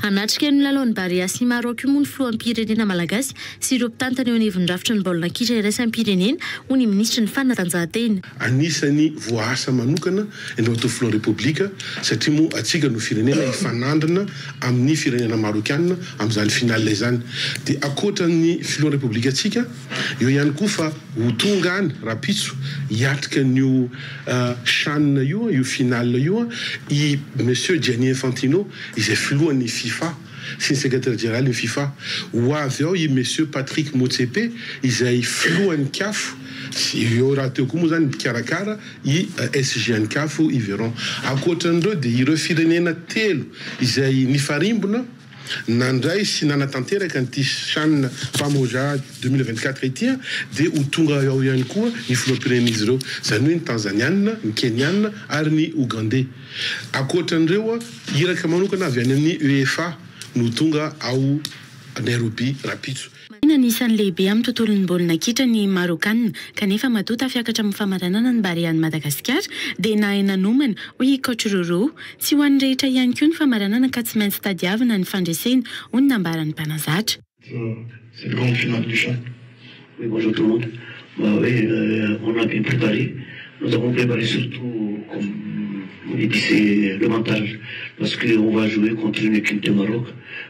Hanatrika ny lalaon'ny Barea sy Maroc io moa ny filoham-pirenena malagasy sy ireo mpitantana eo anivon'ny rafitra ny baolina kitra iraisam-pirenena, hoy ny minisitry ny Fanatanjahantena. Anisan'ny voaasa manokana ny Road to Flow Repoblika satria moa antsika no firenena hifanandrina amin'ny firenena Marokiana amin'izany finale izany. Dia ankoatra ny filohan'ny Repoblikantsika, eo ihany koa fa ho tonga any rahampitso hiatrika an'io Chan io, io finale io, i Monsieur Gianni Infantino, izay filohan'ny Fifa sy ny sekretera jeneralin'ny Fifa. Ho avy ao i Monsieur Patrick Motsepe izay filohan'ny Caf sy eo rahateo koa moa izany ny mpikarakara i SGNCaf Yveron. Ankoatran'ireo dia ireo firenena telo izay nifarimbona nandray sy nanatanteraka an'ity Chan Pamoja deux mille vingt quatre ity dia ho tonga ao ihany koa ny filoham-pirenen'izy ireo, izany hoe ny Tanzaniana, ny Keniana ary ny Ogandey. Ankoatran'ireo, iraka manokana avy any amin'ny UEFA no ho tonga ao Nairobi rahampitso. Marihina ny isan'ny lehibe amin'ny tontolon'ny baolina kitra ny Marôkana kanefa matoa tafiakatra amin'ny famaranana ny Barean'i Madagasikara dia nahay nanomana, hoy i Coach Roro. Tsy ho an'ny rehetra ihany koa ny famaranana ka tsy maintsy tadiavina ny fandresena, hoy ny nambaran'ny mpanazatra. Selon le final du chant oui bonjour tout le monde mba hoe on a bien prepare nous avons prepare surtout comme epicer le mental parce que on va jouer contre une equipe de Maroc,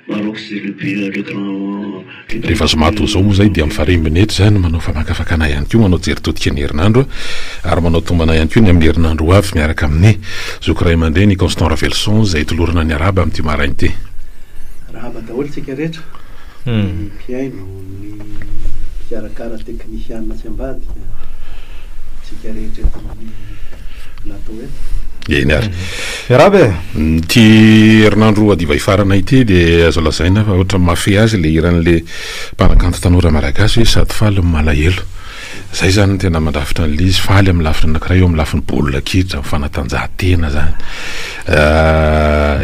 Maroc c'est le pays le grand. Rehefa zoma toa izao moa izay dia mifarembina eto izany manao famakafakana ihany koa manao jery todika ny herinandro ary manao tombana ihany koa ny amin'ny herinandro ho avy miaraka amin'ny Zoky Ray aman-dreny Constant Ravelison izay tolorana ny Arahaba amin'ity maraina ity. Rahaba daholo isika rehetra, ny mpihaino, ny mpikarakara teknisiana sy ambadika, isika rehetra eto amin'ny plateau eto. Eny ary. Miarahaba e! Ity herinandro roa hadiva hifarana ity dia azo lazaina fa ohatran'ny mahafehy azy ilay hiran'ilay mpanakanto tanora malagasy hoe sady faly no malahelo. Izay izany no tena mandrafitra an'ilay izy. Faly amin'ny lafiny anankiray eo amin'ny lafiny baolina kitra, ny fanatanjahantena izany.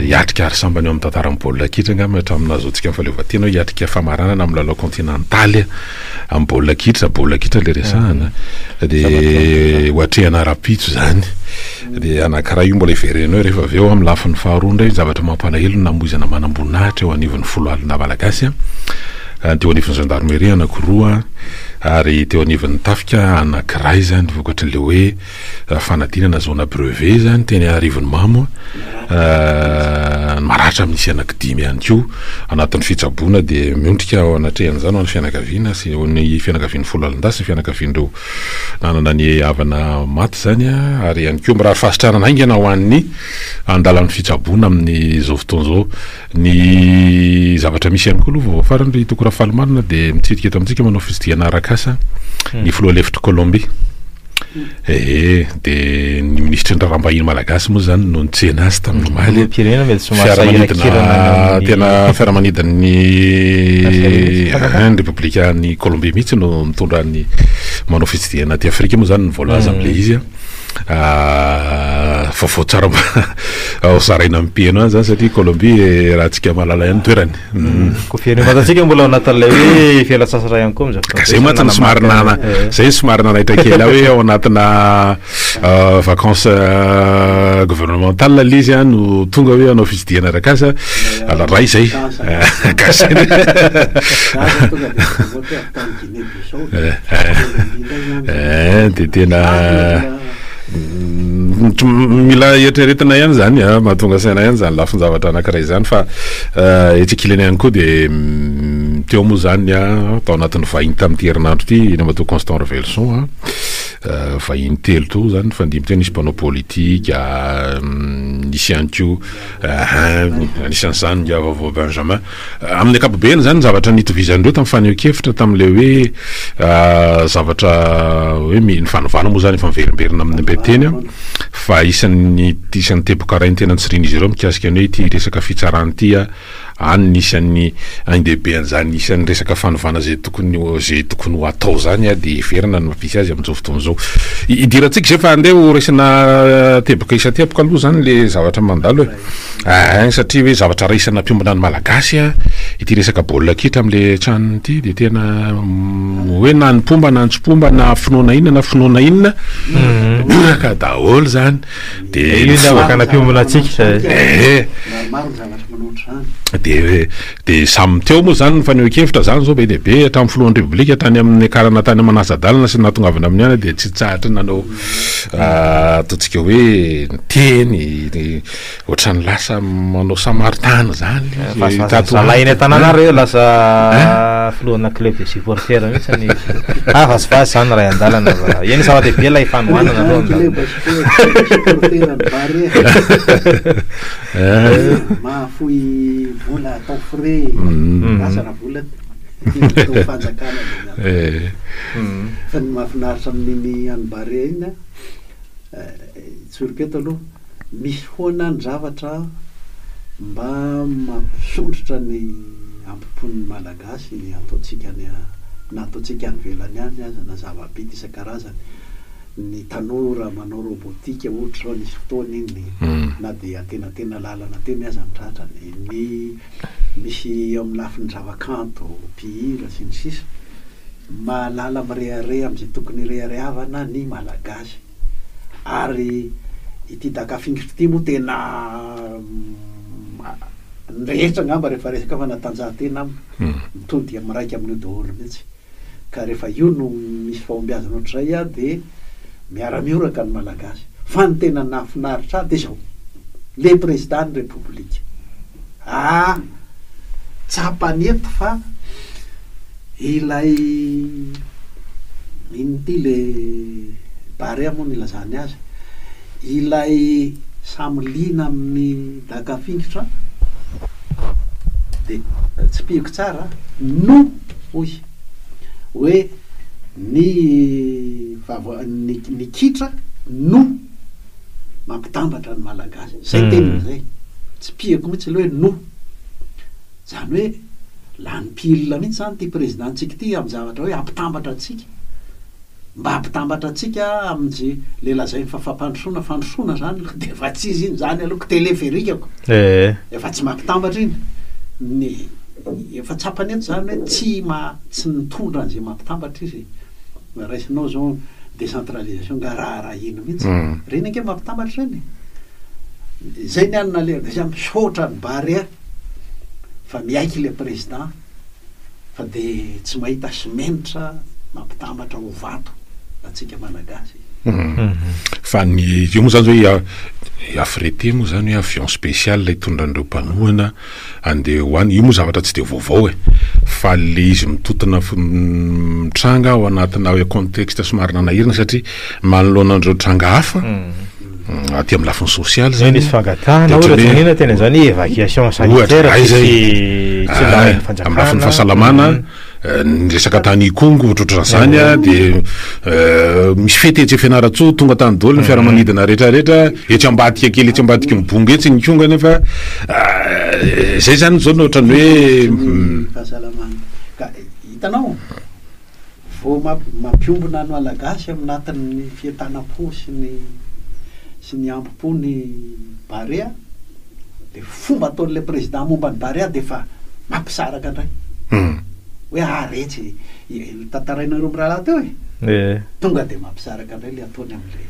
Hiatrika ary sambany eo amin'ny tantaran'ny baolina kitra angamba hatramin'ny nahazoantsika ny fahaleovantena hoe hiatrika famaranana amin'ny lalao kaontinantaly amin'ny baolina kitra, baolina kitra ilay resahana. Dia hoatrehana rahampitso izany. Dia anankiray io mbola hiverenanao rehefa avy eo amin'ny lafiny faharoa indray ny zavatra mampalahelo ny namoizana manamboninahitra eo anivon'ny foloalindahy malagasy, dia eo anivon'ny zandarmeria anankiroa. ary teo anivon'ny tafika anankiray izany vokatr'ilay hoe ah, fanadinana zona brevet izany teny Arivonimamo ah, maratra amin'ny sy anakidimy ihany koa anatin'ny fitsaboana dia miondrika ao anatrehan'izany ho an'ny fianakaviana sy ho ny fianakavian'ny folo alindahy sy ny fianakavian'ireo nanana ny havana maty izany ah, ary ihany koa mirary fahasitranana haingana ho an'ny andalan'ny fitsaboana amin'izao fotoana izao Ny zavatra misy ihany koa aloha vaovao farany ry Toko Rafalimarina dia mitsidika eto amintsika manao fisidihana arak'asa hmm. ny filoha lefitr'i Kolombia. Ee, dia ny minisitry ny raharaham-bahiny malagasy moa izany no nitsena azy tamin'ny omaly. Fiaramanidina tena fiaramanidin'ny repoblikan'i Kolombia mihitsy no mitondra ny manao fitsidihana aty Afrika moa izany ny voalaza hmm. amin'ilay izy. Ah, vaovao tsara mba ao zaraina amin'ny piano any zany satria Colombie eh, raha tsika malala ihany toerany. Mm. Mm. Ko firenena vatantsika mbola ao anatin'ilay hoe fialan-tsasatra ihany koa amin'izao Ka zay mantsy no somary nana, Eh. zay no somary nanaitra kely aho hoe ao anatina ah, vacances ah, gouvernementales ilay izy ah, no tonga hoe hanao fitsidihana arakasa, ala ray zay. Gasy. Za zao tonga dia mivoatra tany Eeh de tena mila eritreretina ihany zany a, ah, mahatonga saina ihany zany lafin-javatra anankiray zany fa eh, etsy ankilany ihany koa de mm, teo moa zany a ah, tao anatin'ny vahiny tamin'ity herinandro ity ina matoa Constant Revelson a ah, eh, vahiny telo to zany fa ndimy teo nisy mpanao politika mm, nisy ihany koa anisany zany Ndiavavo Benjamin Amin'ny ankapobeny izany ny zavatra nitovizan'ireo tamin'ny fanehoan-kevitra tamin'ilay hoe zavatra hoe ny fanovana moa izany efa miverimberina amin'ny mbe-teny fa isan'ny isan'ny teboka rain-tena nitsirian'izy ireo mikasika ny hoe ity resaka fitsarana ity any ny isan'ny ain-dehibe an'izany isan'ny resaka fanovana izay tokony izay tokony ho atao izany dia heverina ny mampisy azy amin'izao fotoana izao. Idirantsika izay fa andeha ho resena teboka isan-teboka aloha izany ilay zavatra mandalo e. Ain, satria hoe zavatra raisana mpiombona ny Malagasy ity resaka baolina kitra amin'le tranony ity dia tena hoe na ny mpomba na ny tsy mpomba na finoana inona na finoana inona miraka mhm. daholo zany dia io zavatra mpiombona antsika eh dia dia samy teo moa zany ny fanehoan-kevitra zany zao be dia be hatramin'ny filohan'ny repoblika tany amin'ny akarana tany amanasa-dalana sy nahatongavana amin'ny ana dia tsy tsahatra nanao Ataontsika hoe niteny ohatran'ny lasa manao samaritany zany izy. Zalahy eny an-tanàna reo lasa filohana club des supporters mihitsy ny ah vazivazy zany ray an-dalana fa io ny zava-dehibe ilay fanohanana aloha mahafoy vola atao frais lasa na vola Filohampanjakana zany ato. Eh. Fa ny mahafinaritra amin'iny an'i Barea iny a, hitsoriko eto aloha, misy foana ny zavatra mba mampisondrotra ny ampopon'ny Malagasy ataontsika any a, na ataontsika any ivelany any aza, na zava-bita isan-karazany. Ny tanora manao robotika ohatra izao nisy fotoana iny, na dia antenatena lalana teny aza ny tratrany. Ny. Misy eo amin'ny lafiny zavakanto, mpihira, sy ny sisa Mahalala mirehareha amin'izay tokony hireharehavana ny Malagasy. Ary ity Daka fingitra ity moa tena ny rehetra angamba rehefa resaka fanatanjahantena aminy, mitody miraika amin'io daholo mihitsy. Ka rehefa io no misy fahombiazana ohatr'izay aho dia miara-mihoraka ny Malagasy. Fa ny tena nahafinaritra ahy dia izao, le Prezidàn'ny Repoblika. Ah! Tsapany eto fa ilay inona ity le Barea moa nilazany azy, ilay samy liana amin'ny. Naka fingotra de tsipihiko tsara no hoy hoe ny vava ny ny kitra no mampitambatra ny malagasy izay teniny izay tsipihiko mihitsy ilay hoe no izany hoe lany pile mihitsy izany ity président ntsika ity amin'ny zavatra hoe hampitambatra antsika Mba ampitambatra antsika amin'izay le lazainy fa fampandrosoana fandrosoana zany aloha de efa tsy izy iny zany aloha ko teleferika ko efa tsy mampitambatra iny ny efa tsapany eto zany hoe tsy ma tsy mitondra an'izay mampitambatra izy e raisinao zao décentralisation nga raha raha ino mihitsy mm. reny ange mampitambatra reny zay ny anona le misaotra ny barea fa miaiky le président fa de tsy mahita simenitra mampitambatra ho vato atsika malagasy. Fa ny io moa zany hoe i Afriete moa zany hoe avion spécial hitondra an'ireo mpanohana andeha ho any, io moa zavatra tsy dia vaovao e! fa le izy mitotona mitranga ao anatina contexte somary nanahirana satria manoloana an'ireo tranga hafa, aty amin'ny lafiny sosialy izay nisy fangatahana ohatra izany inona tena izany évacuation sanitaire tsy tsy lahin'ny fanjakana amin'ny lafiny fahasalamana ny resaka tany ikongo ohatrohatra izany a dia misy fety etsy fianaratsoa tonga tany daholo ny fiaramanidina rehetrarehetra etsy ambadika kely etsy ambadiky ny bongo etsy ny kongo anefa izay izany izao no ohatran'ny hoe fahasalamana ka hitanao Vao mampiombona ny Malagasy amin'ny natin'ny fientanam-po sy ny sy ny hambom-po ny Barea, dia fomba ataon'ilay Président momba ny Barea dia efa mampisaraka indray. Hoe ah retsy, tantarainareo mirahalahy teo e! Tonga dia mampisaraka indray ilay ataony amin'ilay.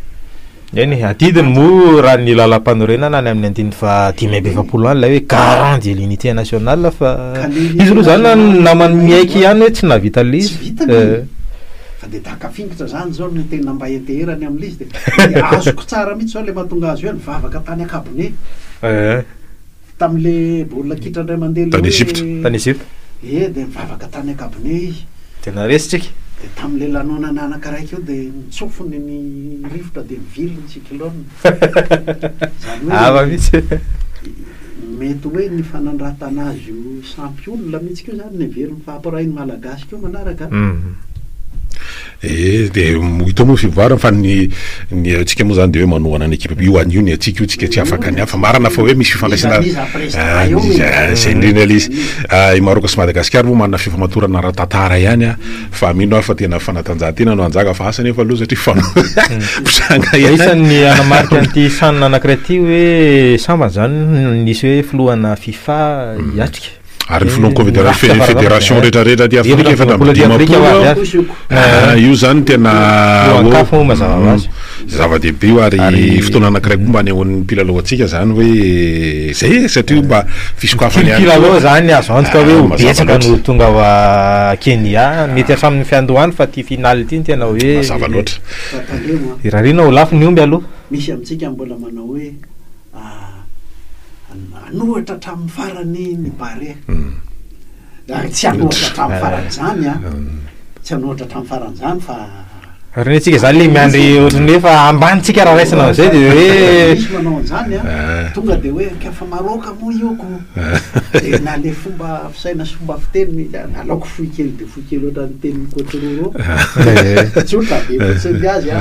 Eny e, adidiny moa raha ny lalam-panorenana any amin'ny andininy faha dimy amby efapolo any ilay hoe garant de l'unité nationale fa izy aloha izany na- namany miaiky ihany hoe tsy nahavita le Tsy izy. vitany Eh, e. Fa dia daka fingotra izany izao no tena mba heteherany amin'ilay izy dia dia azoko tsara mihitsy izao ilay mahatonga azy hoe nivavaka tany an-kabone. eh. Tamin'ilay baolina kitra indray mandeha ilay hoe. Tany Egypta. Tany Egypta. Ie, dia nivavaka tany ankabone izy. Dia naresitr'i Ika. Dia tamin'ilay lanonana anankaraiky io dia nitsofony ny rivotra dia nivily ny cyclone. Izany hoe. Hafa mihitsy. Mety hoe ny fanandratana azy io sampy olona mihitsy koa izany no heveriny fa hampiray ny Malagasy koa manaraka an. Ee, dia hita moa ny fivoarany fa ny ny antsika moa izany dia hoe manohana ny ekipa io anio ny antsika io tsika tsy afaka ny hafa, marina fa hoe misy fifandraisana ahh izay indrindra ilay izy, ahh i Maroc sy Madagascar moa manana fifamatorana ara-tantara ihany ah fa mino aho fa tena fanatanjahantena no hanjaka fa asa anefa aloha satria mifanohitra Dia isan'ny hanamarika an'ity sahanana anankiray ity hoe sambany izany no nisy hoe filohana fifa hiatrika. Ary ny filohan'ny Confederation fe- Federation rehetrarehetra aty Afrika efatra amby dimampolo eo. Ah, io zany tena Lohan-kafa moa mazava ho azy. Mm, zava-dehibe io ary, Ary- fotoana anankiray koa mba anehoan'ny mpilalao antsika zany hoe zay e, satria mba fisokafana Ity ihany mpilalao koa. zany azo antoka hoe Ah, ho mazava betsaka loatra. no tonga ao ah, Kenya, mety hatramin'ny fiandohany fa ity finale ity no tena hoe Mazava loatra. Fa tandremo an, irariana ho lafo ny omby aloha. misy amintsika mbola manao hoe Hanohatra hatramin'ny farany ny Barea. Tsy hanohatra hatramin'ny farany izany an, tsy hanohatra hatramin'ny farany izany fa. Ary ny antsika izany ilay miandry ohatran'ny hoe efa ambanintsika raha raisina amin'izay dia hoe. Misy manao an'izany an, tonga dia hoe ka fa Maroc moa io ko. Dia na ilay fomba fisaina sy fomba fiteny, aleoko fohy kely dia fohy. Kely ohatran'ny tenin'i Coach Roro. Tsotra, be fotsiny azy a.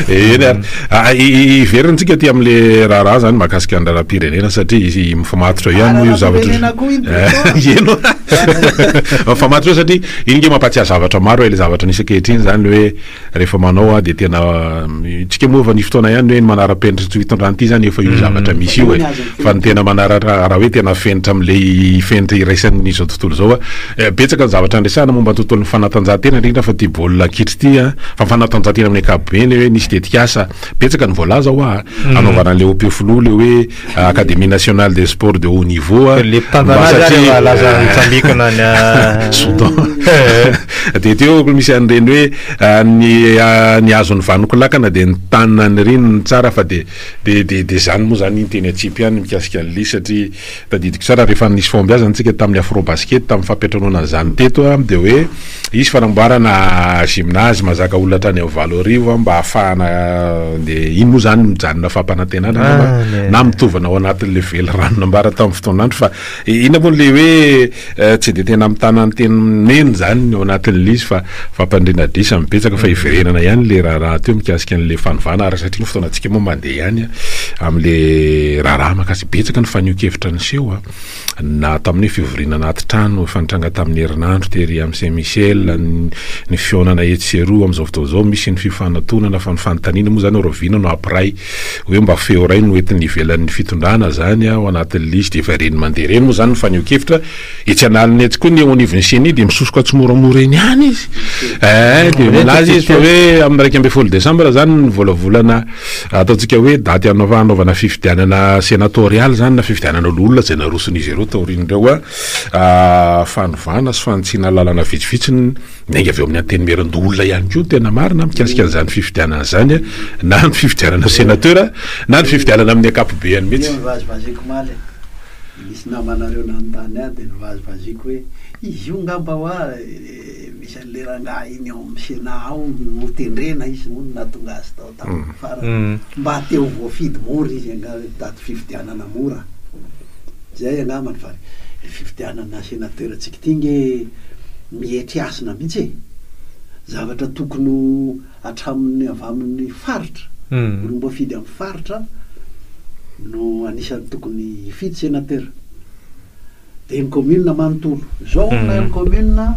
Eny ary. Ah, i- i- Hiverintsika aty amin'ilay raharaha zany mahakasika ny raharaham-pirenena satria izy mifamatotra ihany moa io zavatra. Raharaham-pirenena koa iny Beto. Eno. Mifamatotra satria iny nge mampahatsiahy zavatra maro ilay zavatra nisy ankehitriny zany hoe Rehefa manao aho dia tena tsika moa efa nisy fotoana ihany hoe ny manara-penitra tsy ho hitondrany ity izany efa io zavatra misy io e. Fa ny tena manara raha hoe tena fenitra amin'ilay fenitra iraisan'izao tontolo izao a. Betsaka ny zavatra andresana momba ny tontolon'ny fanatanjahantena indrindra fa ity baolina kitra ity a. Fa ny fanatanjahantena amin'ny ankapobeny hoe misy tetikasa betsaka ny voalaza hoa a. Hanaovana an'ilay OP filoha ilay hoe. Académie Nationale des Sports de Haut Niveau a, Le mpitantana azy ary satria- efa lasa nitsambikina any a- Soudan. dia teo ko misy an'ireny hoe ah, ny ah, ny azon'ny vanonko lakana dia ny tanina ny riny ny tsara fa dia dia dia dia izany moa izany ny teny atsipy ihany mikasika an'i Lisy satria tadidiko tsara rehefa nisy fahombiazana antsika tamin'ny Afrobasket tamin'ny fampiantranoana an'izany teto ah, dia hoe Hisy fanamboarana gymnase mazaka olona hatrany amin'ny valo arivo an, mba hahafahana dia iny moa izany mijanona fampanantenana angamba Any e. na mitovana ao anatin'ilay velirano nambara tamin'ny fotoan'andro fa inona moa ilay hoe eh, tsy dia tena mitana ny teny mena izany ny ao anatin'ilay izy fa fampandriana adrisa ny betsaka fa hiverenana ihany ilay raharaha teo mikasika an'ilay fanovana ary satria ny fotoanantsika moa mandeha ihany an, amin'ilay raharaha makasika betsaka ny fanehoan-kevitra niseho an. Na tamin'ny fivoriana anaty trano efa nitranga tamin'ny herinandro tery amin'ny Saint Michel, ny fihaonana etsy sy eroa amin'izao fotoana izao misy ny fifanatonana fa ny fanontaniana moa izany hoe rahoviana no hampiray hoe mba feo iray no entin'ny ivelan'ny fitondrana izany ao anatin'ny lisy dia efa ireny mandeha ireny moa izany ny fanehoan-kevitra etsy an'aliny etsy koa ny eo anivon'ny ceni dia misosoka tsimoramora eny ihany izy eh dia milaza izy fa hoe amin'ny iraika ambin'ny folo desambra izany ny volavolana Ataontsika hoe daty hanaovana fifidianana senatorialy izany na fifidianana loholona izay naroson'izy ireo taorian'ireo fanovana sy fanitsiana lalana vitsivitsy niainga avy ao amin'ny antenimieran-doholona ihany koa ny tena marina mikasika an'izany fifidianana izany na ny fifidianana senateur na ny fifidianana amin'ny ankapobeny mihitsy. Io nivazivaziko omaly e! Nisy namanareo nanontany ahy dia nivazivaziko hoe izy io ngamba hoa e! dia misy an'ilay rangahy iny ao amin'ny Sénat ao notendrena izy moa no nahatonga azy tao tamin'ny farany. Mm. Mba te ho voafidy mora izy angamba hitady fifidianana mora. Izay angambany fa ilay fifidianana sénateur antsika ity ange mietry hasina mihitsy e! Zavatra tokony ho hatramin'ny avy amin'ny faritra, Mm. olom-boafidy amin'ny faritra no anisan'ny tokony hifidy sénateur. Dia ny kaominina manontolo. Izao hono ilay amin'ny kaominina,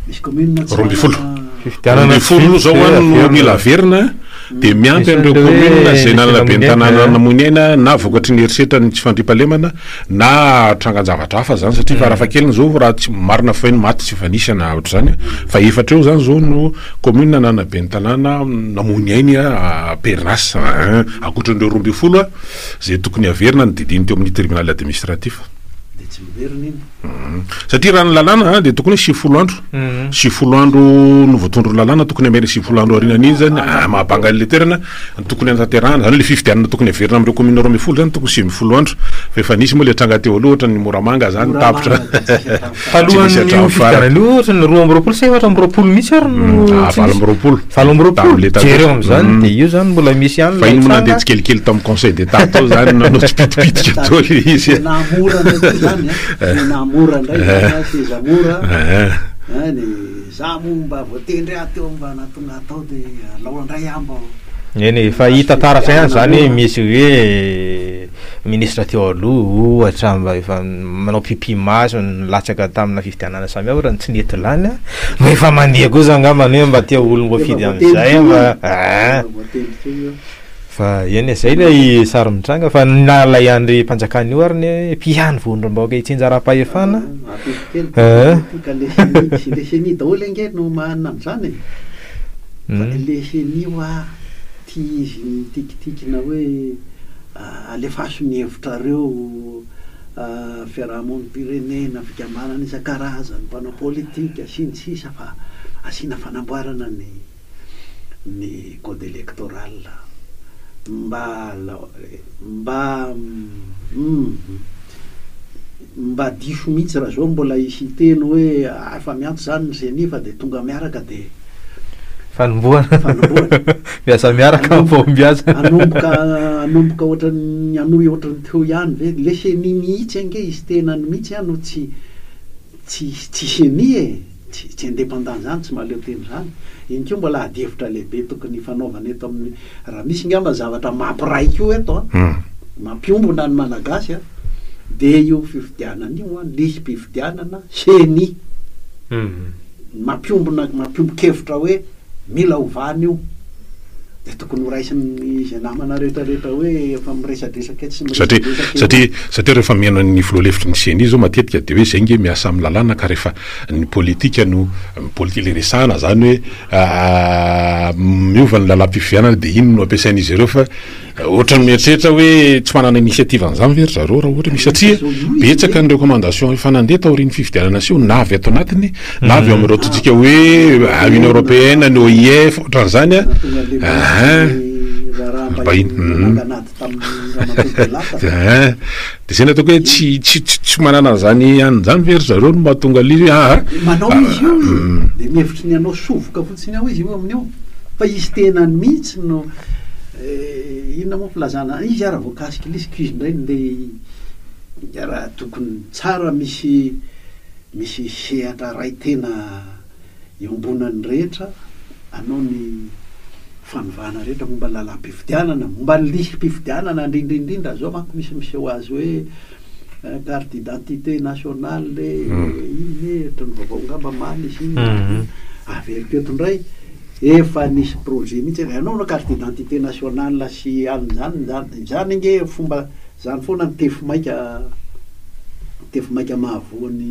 misy kaominina tsy manana. Roa ambin'ny folo aloha izao hono no mila averina dia miampy an'ireo kaominina izay nanana ben'ny tanàna namoy ny aina na vokatry ny herisetra ny tsy fandriampahalemana na trangan-javatra hafa izany satria farafahakeliny izao raha tsy marina feno maty tsy efa nisy an ohatr'izany fa efatra eo izany izao no kaominina nanana ben'ny tanàna namoy ny ainy an pernas an ankoatran'ireo roa ambin'ny folo an Izay tokony haverina ny didiny teo amin'ny tribonaly administratif. Dia tsy miverina iny. Satria raha ny lalàna dia tokony hoe sivifolo andro. Sivifolo andro no voatondron'ny lalàna, tokony hamerina sivifolo andro aorianan'iny izany ah, mahabanga an'ilay toerana tokony hanatanterahana. Izany hoe ilay fifidianana tokony haverina amin'ireo kaominina roa ambin'ny folo izany tokony sivy ambin'ny folo andro. Fa efa nisy moa ilay tranga teo aloha, ohatra ny Moramanga izany tapitra. Talohan'io fifidianana io ohatra ny roa amby roapolo sa efatra amby roapolo mihitsy ary no mm, ah, valo amby roapolo valo amby roapolo jereo amin'izany mm. dia io izany mbola misy ihany fa iny moa nandeha tsikelikely tamin'ny conseil d'état tao izany nanao tsipitipitika tao le izy namora ndraiky izany eh. eh. namora indray eh. seza mora any za moa mba voatendry ahy teo mba natonga atao dia alao indray ahy mba eny fa hita taratra ihany izany misy hoe minisitra teo aloha ohatra mba efa manao pipi maso nilatsaka tamina fifidianana samihafa raha ny tsy nety lany a mba efa mandeha kosa angambany hoe mba te ho olom voafidy amizay mba aa fa eny e zay lay sary mitranga fa na lay andry mpanjakana io ary ny mpihany vondrombahoaka hitsinja arapahefana aa le ceni daholo ange no manana anzany e fa le ceni hoa. Tia izy nitikitikina hoe alefaso ny hevitrareo, fiarahamonim-pirenena, fikambanana isan-karazany, mpanao politika, sy ny sisa fa asiana fanamboarana ny code electoral mba mba. Mba diso mihitsy raha zao mbola hiteny hoe ary fa mianto zany ny ceni fa dia tonga miaraka dia Fanombohana. Fanombohana. Miasa miaraka amin'ny fahombiazana. Hanomboka hanomboka ohatran'ny hanohy ohatran'ny teo ihany ve? Le ceni mihitsy ange izy tenany mihitsy an no tsy tsy tsy ceni e! Tsy independant zany, tsy mahaleo tena zany. Iny koa mbola ady hevitra lehibe tokony hifanaovana eto amin'ny, raha misy ngamba zavatra mampiray koa eto an, mampiombona ny Malagasy an, dia io fifidianana io an, lisy mpifidianana, ceni, mampiombona, mampiombon-kevitra hoe, Mila ovana io. Dia tokony horaisin'ny izay namana rehetra rehetra hoe efa miresadresaka etsy sy miresadresaka eroa. Satria, satria rehefa mihaino an'ny filoha lefitry ny ceni izao matetika dia hoe izay nge miasa amin'ny lalàna ka rehefa ny politika no politika ilay resahana izany hoe miova ny lalam-pifidianana dia iny no ampiasain'izy ireo fa Ohatran'ny mieritreritra hoe tsy manana initiative an'izany ve ry zareo raha ohatra misy satria betsaka ny recommandation efa nandeha taorian'ny fifidianana seho na avy ato anatiny na avy ao amin'ireo totsika hoe Union Européenne, ny OIF, ohatran'izany an! Dia izay no ataoko hoe tsy manana an'izany anona izany ve ry zareo no mahatonga an' izy hoe. Eh inona moa filazana izy ara vao cas cycliste ko izy indray ndeha raha tokony tsara misy misy sehatra iray tena iombonan'ny rehetra anao ny fanovana rehetra momba ny lalam-pifidianana momba ny lisy-pifidianana indrindra indrindra zao manko misy miseho azy hoe Carte d'identité nationale iny anie ohatran'ny vaovao angamba many izy iny dia averiko eto indray, efa nisy projet mihitsy hoe anaovana carte d'identité nationale sy anona izany izany, izany ange fomba izany foana ny tefimaika, tefimaika mahavoa ny.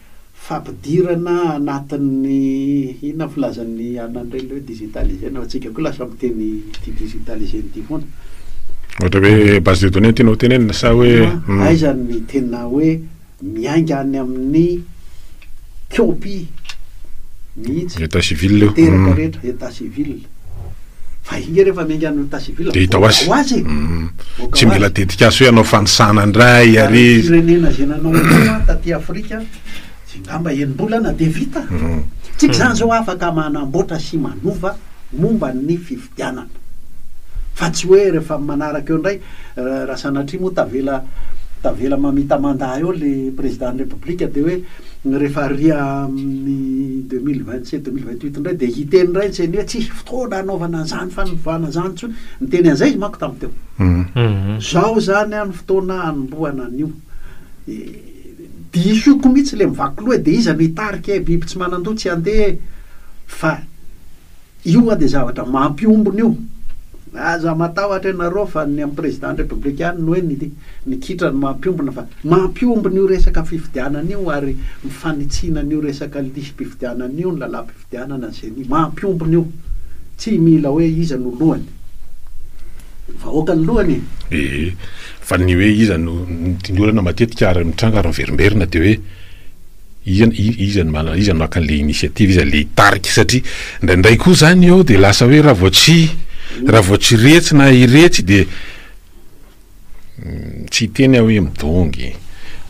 fampidirana anatin'ny inona ny filazan'ny anan'ireny hoe digitalisé na antsika koa lasa miteny ity digitalisé ity foana. Ohatra hoe base de données tianao tenenina sa hoe hmm. aiza ny tena hoe miainga any amin'ny copie mihitsy état civil teraka hmm. rehetra état civil fa inge rehefa miainga any état civil dia hita ho azy e mm. tsy mila dedikasy hoe anao fanisana indray ary firenena zay nanao anao taty afrika zay ngamba enim-bolana dia vita mm. tsika izany zao afaka manamboatra sy manova momba ny fifidianana fa tsy hoe rehefa manaraka eo indray raha sanatria moa tavela tavela mamita mandat eo le président ny république dia hoe rehefa ria amin'ny deux mille vingt sept deux mille vingt Tweet indray dia hiteny indray ntseny hoe tsisy fotoana hanaovana an'izany fanovana izany intsony. Niteny an'izay izy manko tamin'ny teo. Izao izany an ny fotoana hanombohana an'io. Disoko mihitsy ilay mivaky loha e, dia iza no hitarika e, biby tsy manan-doha tsy handeha e. Fa io an dia zavatra mampiombona io. Aza matahotra ianareo fa ny an'ny président ny république ihany no hoe ny. Ny kitra no mampiombona fa mampiombona io resaka fifidianana io ary mifanitsiana an'io resaka lisi-pifidianana io ny lalam-pifidianana ny ceni. Mampiombona io. Tsy mila hoe iza no lohany. Ny vahoaka no lohany e! Ee, fa ny hoe iza no, ny olana matetika ary mitranga ary miverimberina dia hoe iza, iza no manana, iza no maka an'ilay initiative, iza ilay hitarika satria indraindray koa izany eo dia lasa hoe raha vao tsy, raha vao tsy iretsy na iretsy dia. Tsy hiteny aho hoe midongy,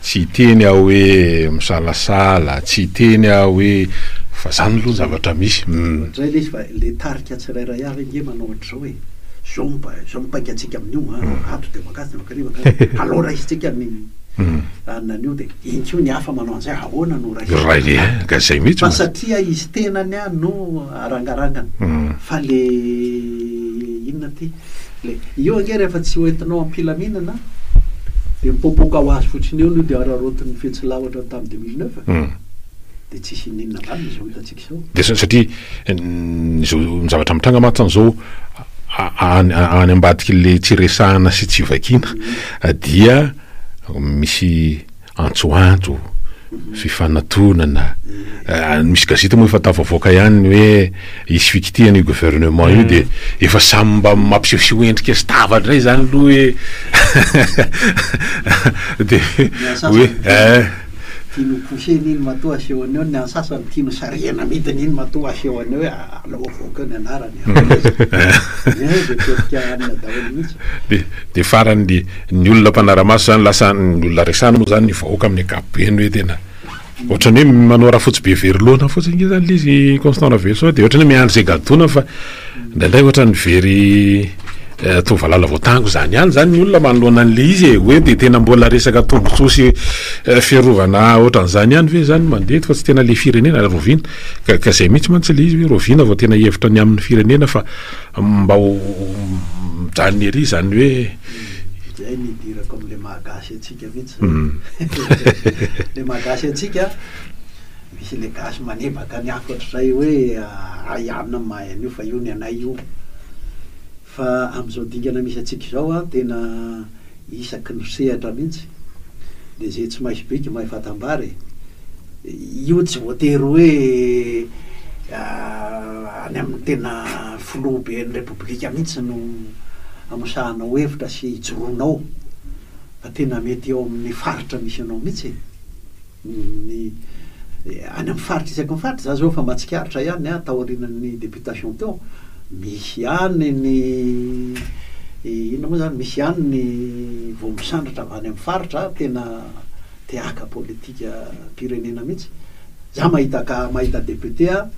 tsy hiteny aho hoe misalasala, tsy hiteny aho hoe fa zany aloha ny zavatra misy. Izay ilay izy fa ilay tarika tsirairay avy ange manao ohatr'izao e, izao no izao no paika antsika amin'io a, ato dia mankasy dia mankany mankany, alao raisintsika ny anona anio dia iny koa ny hafa manao an'izay ahoana no raisintsika, fa satria izy tenany no arangarangana, fa ilay inona ity. Le io ange rehefa tsy hoentinao am-pilaminana dia mipoapoaka ho azy fotsiny eo no dia araraotin'ny fetsy lahatra tamin'ny deux mille neuf. Hum. Dia tsisy ininona valiny izao hitantsika izao. Dia sa- satria ny izao ny zavatra mitranga mantsy izao a- a- any a- any ambadik'ilay tsy resahana sy tsy vakiana dia misy antsoantso, fifanatonana, misy gazety moa efa tafavoaka ihany ny hoe hisy fikitihana io gouvernement io dia efa samy mba mampisehoseho endrika sy tava indray izany aloha hoe dia hoe eh. Tiany ho poussena iny matoa asehony eo, ny an'ny sasany tiany ho sarihina amidiny iny matoa asehony eo hoe alao avoaka eo ny anarany. de farany de ny olona mpanaramaso zany lasa ny olona resany moa zany ny vahoaka amin'ny ankapobeny hoe tena ohatrany hoe manao rafotsy be very loana fotsiny nge zany lizy constant raveloson de ohatrany hoe miandry zay gadona fa ndraindray ohatrany very Toa valala voatango izany ihany izany ny olona manoloana an'ilay izy e! Hoe dia tena mbola resaka tombontsoa sy fiarovana ohatran'izany ihany ve izany no mandeha eto fa tsy tena ilay firenena rahoviana? Ka ka izay mihitsy mantsy ilay izy hoe rahoviana vao tena hihevitra ny amin'ny firenena fa mba ho mijanona ery izany hoe. Izay no idirako amin'ilay maha gasy antsika mihitsy izany. Ilay maha gasy antsika, misy ilay gasy manebaka ny hafa ohatr'izay hoe ahiana ny mahay an'io fa io ny anay io. Fa amin'izao dingana misy antsika izao an, tena isaky ny sehatra mihitsy dia izay tsy maisy briky mahay fatam-bary e! Io tsy voatery hoe any amin'ny tena filohaben'ny repoblika mihitsy no amosahanao hevitra sy ijoroanao fa tena mety eo amin'ny faritra misy anao mihitsy e! Ny any amin'ny faritra isaky ny faritra, za zao efa mba tsikaritra ihany an, taorian'ny deputation teo, misy ihany ny inona moa zany, misy ihany ny vao misandratra avy any amin'ny faritra, tena te haka politikam-pirenena mihitsy. Za mahita cas, mahita député aho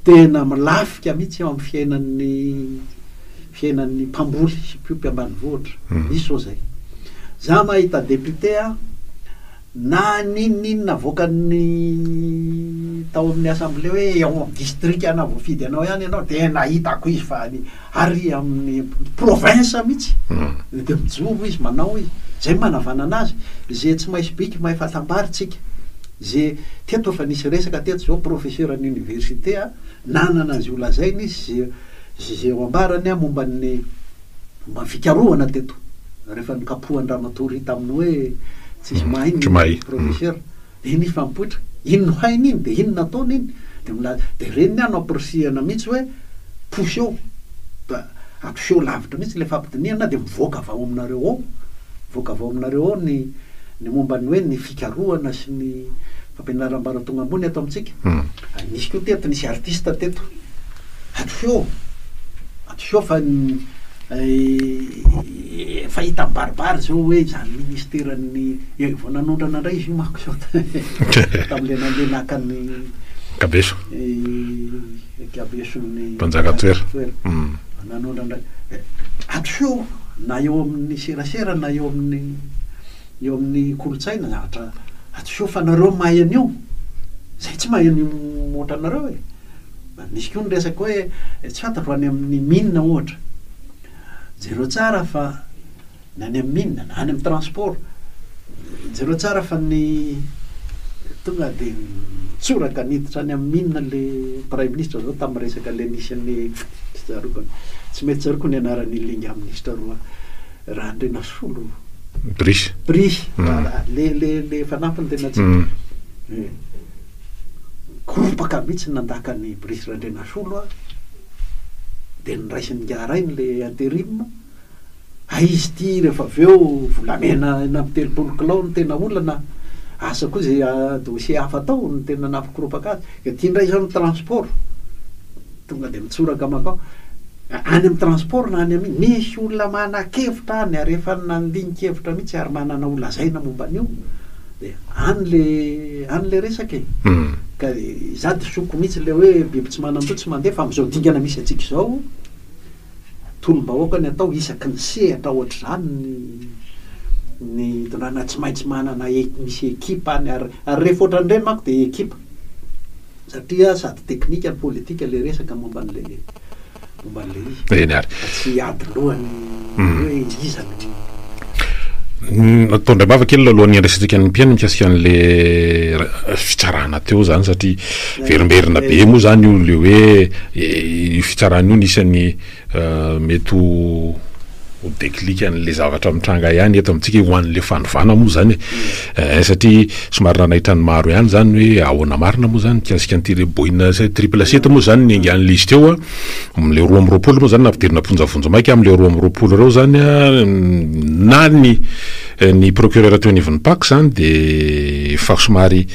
tena milafika mihitsy eo amin'ny fiainan'ny. Fiainan'ny mpamboly hipiompy ambanivohitra. Misy ho'a zay. Za mahita député a, na ninoninona avoakan'ny tao amin'ny assemblée hoe ao amin'ny district ana voafidy anao ihany ianao dia nahitako izy fa any ary amin'ny province mihitsy dia mijoro izy manao izy. Zay manavanana azy. Ze tsy maisy bika mahay fatambary tsika. Ze teto efa nisy resaka teto zao professeur an'université a, nanana an'ze ho lazainy izy. Izay ho ambarany momba ny momba ny fikarohana teto rehefa nokapohan-dramatoa Ry tamin'ny hoe tsisy mahay ny professeur dia iny izy fa mipoitra, iny no hainy iny dia iny no ataony iny dia milaza, dia ireny ny ahy no ampirisihana mihitsy hoe poseho ba atoseho lavitra mihitsy ilay fampidinihana dia mivoaka avy ao aminareo ao mivoaka avy ao aminareo ao ny ny momba ny hoe ny fikarohana sy ny Ampianaram-bara tonga ambony eto amintsika. Ary nisy koa teto, nisy artiste teto. Hadisoa, hadisoa fa efa hita mibaribary izao hoe izany ministeran'ny, vao nanondrana indray izy io manko izao tamin'ilay nandeha naka ny Kabeso. Kabeson'ny Mpanjaka Tsoera. Nanondrana indray. Hadisoa na eo amin'ny serasera na eo amin'ny. eo amin'ny kolontsaina zatra ato feo fa nareo mahay an'io zay tsy mahay an'io ohatranareo e misy koa ny resaka hoe tsy fantatro any amin'ny mine ohatra jereo tsara fa ny any amin'ny mine na any amin'ny transport jereo tsara fa ny tonga de mitsoraka niditra any amin'ny mine le pray ministra zao tamin'ny resaka le nisy an'ny tsy tsaroako ny anaran'ny linga minisitra roa Randrinasolo. Brice. Brice. Le le le fanampiny tena tsy. Gompaka mihitsy nandaka an'i Brice Randrinasolo aho. Dia noraisin'i Ngaharainy le interim. Hay izy ity rehefa avy eo volamena enina amby telopolo kilao no tena olana. Asa koa izay dossier hafa atao no tena nampikoropaka azy. Dia ity indray izao ny transport. Tonga dia mitsoraka mankao any amin'ny transport na any amin'ny, nisy olona manakevitra any ary efa nandinikevitra mihitsy ary manana ho lazaina momba an'io dia any le any le resaka e. Ka izaho disoko mihitsy le hoe biby tsy manan-doha tsy mandeha fa amin'izao dingana misy antsika izao tolom-bahoaka ny atao isaky ny sehatra ohatr'izany ny ny dondràna tsy maintsy manana misy ekipa any ary ary rehefa ohatran'ireny manko dia ekipa satria sady teknika no politika ilay resaka momba an'ilay momba an'ilay izy eny ary mba tsy hiady loha ny hoe iza no Natao indray mava kely alohan'ny handresentsika ny mpihaino mikasika an'le fitsarana teo zany satria verimberina be moa zany io le hoe eh, io fitsarana io nisany eh, mety ho ho déclic an'le zavatra mitranga ihany eto amintsika ho an'le fandovana moa zany e. eh, satria somary nanaitra ny maro ihany zany hoe ahoana marina moa zany mikasika an'ity le boina triple sept moa zany niaingan'le izy teo a Amin'ilay roa amby roapolo moa izany nampidirina am-ponja vonjimaika amin'ireo roa amby roapolo ireo izany na ny ny procureur teo anivon'ny PAC izany dia efa somary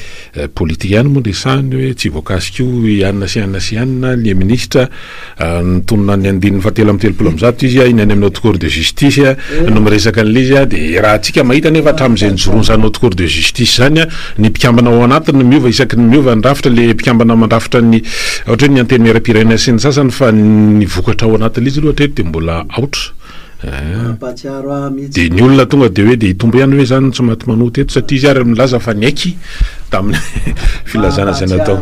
politika ihany moa resahany hoe tsy voakasika io i anona sy anona sy anona ny minisitra nitonona ny andininy fahatelo amin'ny telopolo amin'ny zato izy iny any amin'ny haute cour de justice no miresaka an'ilay izy dia raha antsika mahita nefa hatramin'izay nijoroany izany haute cour de justice izany ny mpikambana ao anatiny no miova isaky ny miova ny rafitra le mpikambana mandrafitra ny ohatra hoe ny antenimieram-pirenena sy ny sasany fa ny vokatra ao anatin'ilay izy aloha hatreto dia mbola aotra dia ny olona tonga dia hoe dia hitombo ihany ve izany tsy maty manota eto satria izy ary milaza fa niaiky tamin'ny filazana izay natao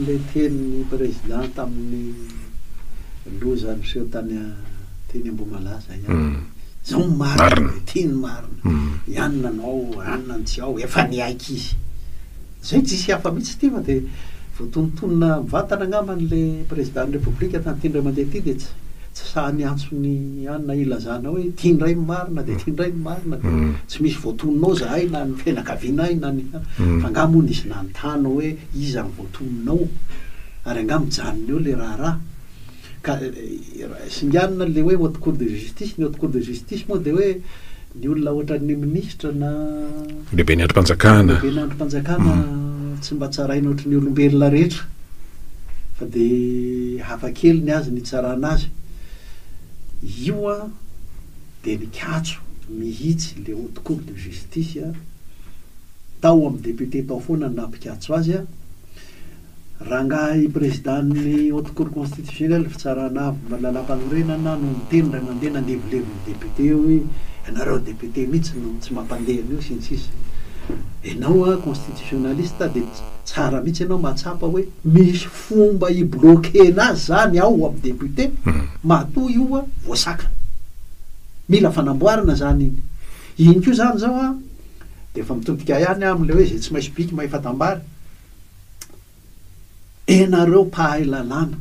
le tenin'ny président tamin'ny loza niseho tany Teny Ambohimalaza ihany. Izao ny marina e, ity ny marina. I anona anao, anona ny tsy ao, efa niaiky izy. Izay tsisy hafa mihitsy ity fa dia voatonontonona mivantana angamba an'ilay Prezidan'ny Repoblika tamin'ity indray mandeha ity dia tsy tsy sahy miantso ny anona hilazana hoe ity indray ny marina dia ity indray ny marina dia tsy misy voatonona ao izahay na ny fianakaviana ahy na ny fa angaha moa nisy nanontany hoe iza ny voatonona ao ary angaha mijanona eo ilay raharaha. Ka singanina an'ilay hoe haute cour de justice, ny haute cour de justice moa dia hoe ny olona ohatran'ny minisitra na Lehiben'ny andrim-panjakana. Lehiben'ny andrim-panjakana tsy mba tsaraina ohatry ny olombelona rehetra fa dia hafa kely ny azy ny hitsarana azy. Io an dia nikatso mihitsy ilay haute cour de justice tao amin'ny député tao foana nampikatso azy. Rangahy Prezidan'ny Haute Cour Constitutionnelle, Fitsarana Avo momba ny Lalàmpanorenana, no niteny iray mandeha nandevilevy ny députés hoe ianareo députés mihitsy no tsy mampandeha an'io sy ny sisa. Ianao an, constitutionnaliste dia tsara mihitsy ianao mahatsapa hoe misy fomba hi-bloquer-na azy izany ao amin'ny députés matoa io an voasakana. Mila fanamboarana izany iny. Iny koa izany izao an dia efa mitodika ihany amin'ilay hoe izay tsy maintsy biky mahefa-tambara. enareo mpahay lalàna,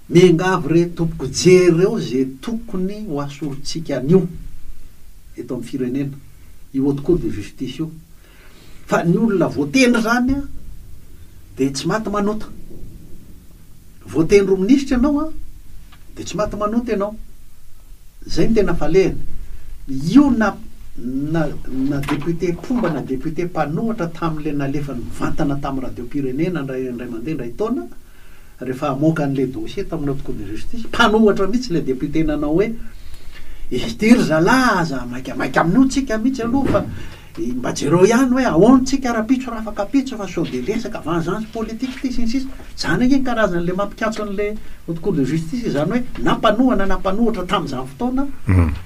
miangavy re tompoko jereo ze tokony ho asorintsika anio eto am firenena io haute cour de justice io fa ny olona voatendry zany a de tsy maty manota. Voateny roa minisitra ianao an, dia tsy maty manota ianao. Izay no tena falehany. Io na na na député mpomba na député mpanohatra tamin'ilay nalefany mivantana tamin'ny radiom-pirenena indray indray mandeha indray taona, rehefa hamoaka an'ilay dossier tao amin'ny haute cour de justice, mpanohatra mihitsy ilay député nanao hoe, ity ry zalahy aza maikamaika amin'io tsika mihitsy aloha fa. Dia mba jereo ihany hoe ahoana tsika rahampitso raha afaka pitsy fa sao dia resaka vengeance politique ity sy ny sisa Izany ange ny karazan'ilay mampikatso an'ilay haute cour de justice izany hoe na mpanohana na mpanohitra tamin'izany fotoana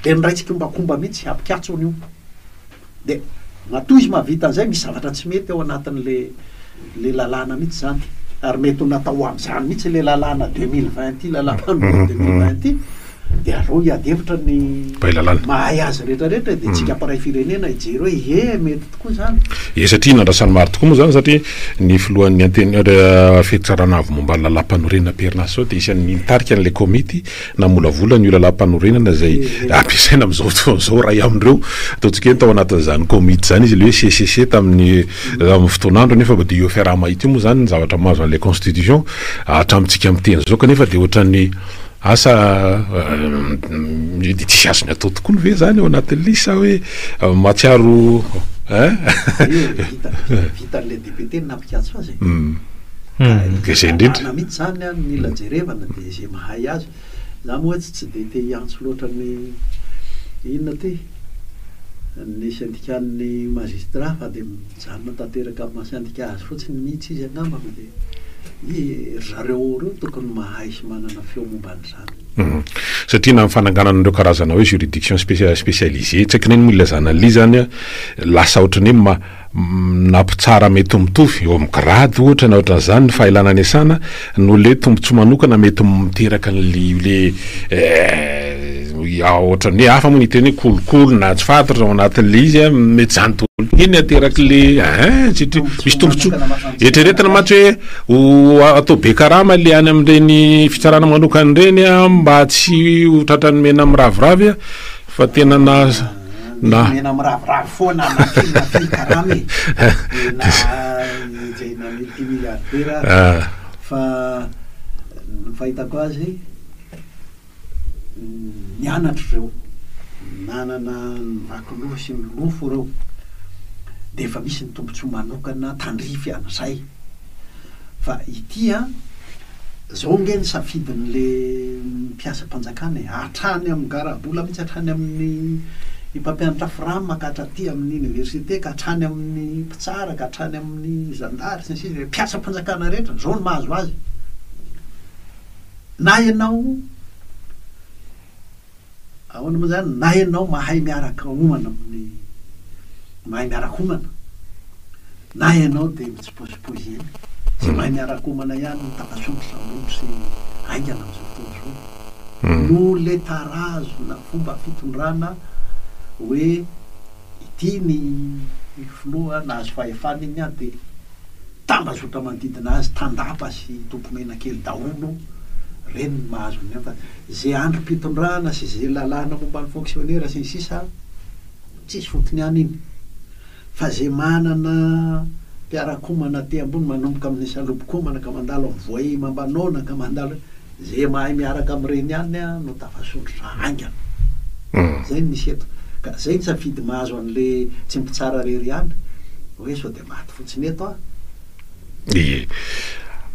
dia miray tsikombakomba mihitsy hampikatso an'io Dia matoa izy mahavita an'izay misy zavatra tsy mety ao anatin'ilay lalàna mihitsy izany ary mety ho natao ho amin'izany mihitsy ilay lalàna deux mille vingt ity lalàmpanohana deux mille vingt ity dia aleo hiady hevitra ny mahay azy rehetra rehetra e, dia tsika mpiray firenena hijery hoe ie mety tokoa izany. Ie satria nandrasany maro tokoa moa izany satria ny filohan'ny anten Rafiq Charanavo momba ny lalàmpanorenana am-perinasa izao dia isan'ny nitarika an'ilay komity namolavola an'io lalàmpanorenana izay ampiasaina amin'izao fotoana izao, iray amin'ireo ataontsika hoe tao anatin'izany komity izany izy ilay hoe CCC tamin'ny amin'ny fotoan'androny nefa mba dia io fiaraha-mahita io moa izany ny zavatra mahazo an'ilay constitution hatramintsika miteny izao kanefa dia ohatran'ny Asa mety tsy azony atao tokoany ve zany ao anatin'ny lisy sa hoe mahatsiaro hein? Dia vitan'ilay député ny nampikatso azy e! Dia izay indrindra. Lalàna mihitsy izany an, mila jerevana dia izay mahay azy. Za moa etsy tsy dia te hiantso loatra ny inona ity? ny syndicat-n'ny magistrats fa dia. Mijanona tanteraka amin'ny maha sendika azy fotsiny mihitsy izy angamba fa dia hoe ry zareo ao ireo tokony mahay sy manana feo momba an'izany. Satria na ny fananganana an'ireo karazana hoe juridiction spécialisée, tsy haiko na inona moa ilay zany an'ilay izy zany, lasa ohatran'ny hoe nampitsara mety mitovy, eo amin'ny grade ohatra na ohatran'izany ny fahaelana niasana, Noho ilay tombontsoa manokana mety miteraka an'ilay io ilay eh, ohatran'ny hoe hafa moa ny teny hoe kolikoly na tsy fantatra ao anatin'ilay izy a, mety izany daholo ity ny aterak'ilay eh, tsy tr- misy tombontsoa. Eritreretina mantsy hoe ho a- atao be karama ilay any amin'ireny fitsarana manokana ireny a, mba tsy ho tratran'ny mena miraviravy a, fa tena na na mena miraviravy foana anakiny na teny karama e dia na izay na multimilliardaire aza ah. fa ny fahitako azy nianatra ireo nanana ny vakoloha sy ny lofo ireo dia efa misy ny tombontsoa manokana tandrify an'izay Fa ity an, zao nge ny safidin'le mpiasam-panjakana e, hatrany amin'ny garabola mihitsy, hatrany amin'ny mpampianatra fram ka hatraty amin'ny université ka hatrany amin'ny mpitsara ka hatrany amin'ny zandary sy ny sisa e, mpiasam-panjakana rehetra zao no mahazo azy. Na ianao. Ahoana moa izany na ianao mahay miaraka homana amin'ny mahay miaraka homana na ianao dia mitsipozipozy eny. Tsy mahay miaraka homana ihany ny tambazotra sambondro sy haingana amin'izao fotoana izao. Noletarahazona fomba fitondrana hoe ity ny filoha nahazo fahefana iny dia Tambazotra manodidina azy, tandapa sy tompomenakely daholo reny no mahazo an'ireny fa ze androm-pitondrana sy ze lalàna momba ny fonksionera sy ny sisa tsisy fotony any iny fa ze manana mpiarakomana aty ambony manomboka amin'ny salobokomana ka mandalo amin'ny voay mambanona ka mandalo ze mahay miaraka amin'ireny ihany no tafasondrotra haingana. Zay no misy eto ka zay ny safidy mahazo an'le tsy mpitsara rery ihany hoe sao dia maty fotsiny eto an! Ye.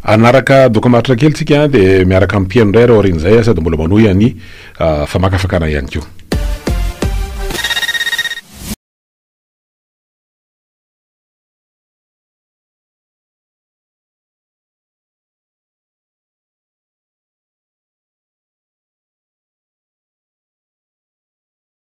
Hanaraka doka maharitra kely tsika an, dia miaraka amin'ny mpihaino indray ary aorian'izay an, sady mbola manohy an'i famakafakana ihany koa.